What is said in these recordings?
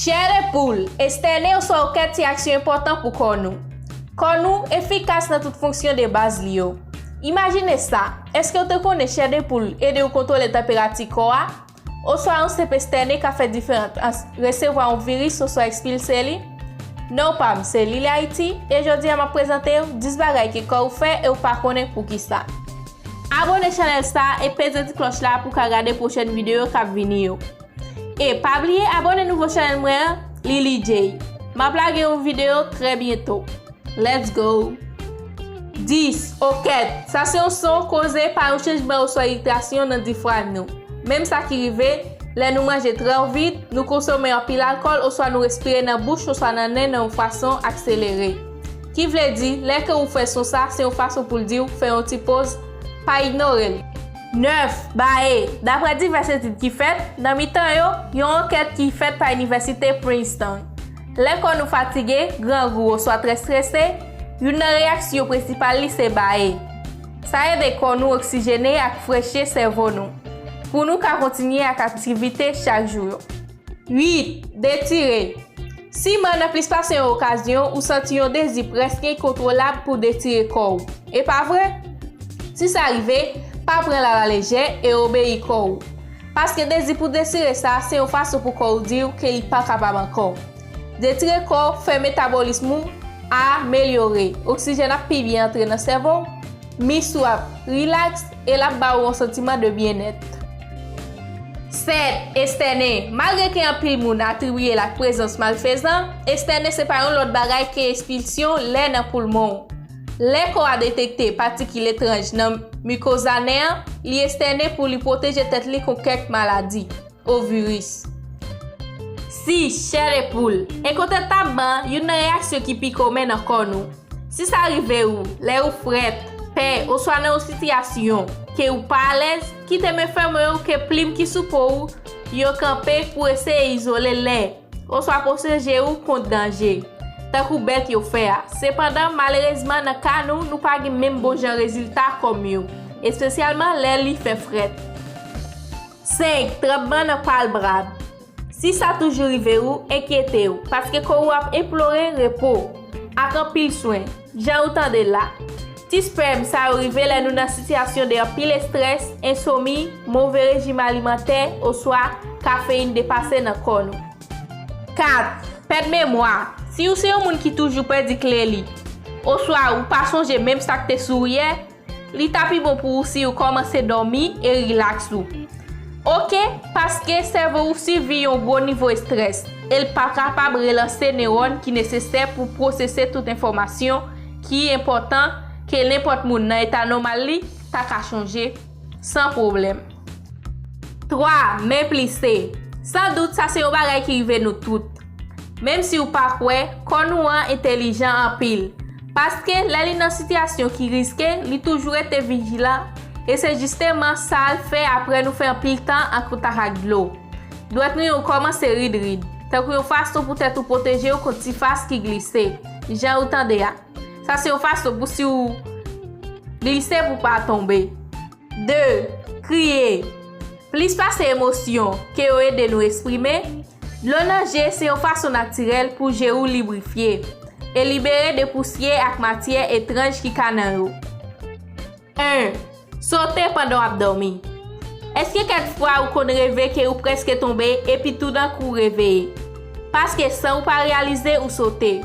Chèlè poul, estène oswa okèt se aksyon enpòtan pou kò nou. Kò nou efikas nan tout fonksyon de baz li yo. Imajine sa, èske ou te konnen chè de poul ede ou kontwole tanperati kò a? Oswa yon senp estène ka fè diferans ant resevwa yon viris oswa ekspilse li? Non pam se Lily Haiti e jodi a map prezante ou 10 bagay ke kò ou fè e ou pa konnen poukisa. Abone chanèl sa e peze ti klòch la pou ka gade pwochèn videyo kap vini yo. E pa bliye abone nouvo chanel mwen an Lily Jay Map lage yon video trè byento Let's go 10. Okèt, sa se yon son koze pa yon chanjman oswa iritasyon nan difrag nou. Menm sa ki rive, lè nou manje trò vit, nou konsome anpil alkòl oswa nou respire nan bouch oswa nan nen nan yon fason akselere. Ki vle di, lè kè ou fè son sa, se yon fason pou l di w fè yon ti poz, pa ignore l. 9, Bae, Dapre divès etid ki fèt, nan mitan yo, yon ankèt ki fèt pa Inivèsite Princeton. Lè kò nou fatige, grangou oswa trè strese, youn nan reyaksyo prensipal li se bae. Sa ede kò nou oksijene ak freche sèvo nou, pou nou ka kontinye ak aktivite chak jou yo. 8, Detire Siman nan plis pase yon okazyon, ou santi yon dezi prèske enkontwolab pou w detire kò ou. E pa vre? Si sa rive, pa pran l alalejè e obeyi kò ou. Paske dezi pou detire sa se yon fason pou kò ou di w ke li pa kapab ankò. Detire kò fè metabolism ou a melyore, oksijèn ap pi byen antre nan sèvo w, mis ou ap rilaks, E l ap ba ou yon santiman de byennèt. 7, Estène, Malgre ke anpil moun atribiye l ak prezans malfezan, estène se pa yon lòt bagay ke espilsyon lè nan poulmon ou. Lè kò a detekte patikil etranj nan mikoza nen an, li estène pou li pwoteje tèt li kont kèk maladi. Ovirus. Si, chè de poul. Enkontantabman, youn nan reyaksyon ki pi komen nan kò nou. Si sa rive ou, lè ou frèt, pè, oswa nan yon sitiyasyon ke ou pa alèz, kite men fèmen yo ke plim ki sou po ou yo kanpe pou eseye izole lè, oswa pwoseje ou kont danje, tankou bèt yo fè a. Sepandan, malerezman nan ka nou, nou pa gen menm bon jan rezilta kòm yo, espesyalman lè li fè frèt. 5, Tranbman nan palbrab Si sa toujou rive ou, enkyete ou, paske kò ou ap enplore repo. Ak anpil swen, jan ou tande la. Ti spèm sa yo rive lè nou nan sitiyasyon de anpil estrès, ensomi, move rejim alimantè, oswa kafeyin depase nan kò nou. 4, Pèd memwa Si ou se yon moun ki toujou pèdi kle li, oswa ou pa sonje menm sa k te sou ou yè, Li ta pi bon pou ou si ou kòmanse dòmi e rilaks ou. Ok, paske sèvo ou sibi yon gwo nivo estrès e l pa kapab relanse newòn ki nesesè pou pwosese tout enfòmasyon ki enpòtan ke nenpòt moun nan eta nòmal li ta ka chonje san pwoblèm. 3, Men plise. San dout, sa se yon bagay ki rive nou tout. Menm si ou pa kwè, kò nou an entelijan anpil. Paske, lè li nan sitiyasyon ki riske, li toujou rete vijilan, e se jisteman sa l fè apre nou fè anpil tan an kontak ak dlo. Dwèt nou yo kòmanse rid rid, tankou yon fason poutèt ou pwoteje yo kont sifas ki glise. Jan ou tande a. Sa se yon fason pou si ou glise pou w pa tonbe. 2, Kriye, Plis pase emosyon ke yo ede nou esprime, dlo nan je se yon fason natirèl pou je ou librifye e libere de pousyè ak matyè etranj ki ka nan yo. 1, Sote pandan w ap dòmi, Èske kèk fwa ou konn reve ke ou prèske tonbe epi toudenkou ou reveye? Paske san ou pa reyalize ou sote.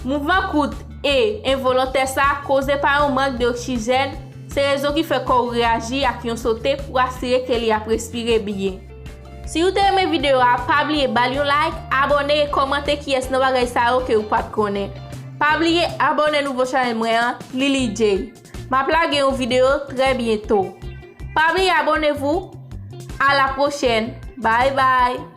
Mouvman kout e envolontè sa koze pa yon mank de oksijèn, Se rezon ki fè kò ou reyaji ak yon sote pou asire ke li ap respire byen. Si ou te renmen video a, pa bliye bal yon like, abone e komante kiyes nan bagay sa yo ke ou pat konnen. Pa bliye abone nouvo chanel mwen an, Lily Jay. Map lage yon video trè byento. Pa bliye abonnez-vous! A la prochèn! Bye bye!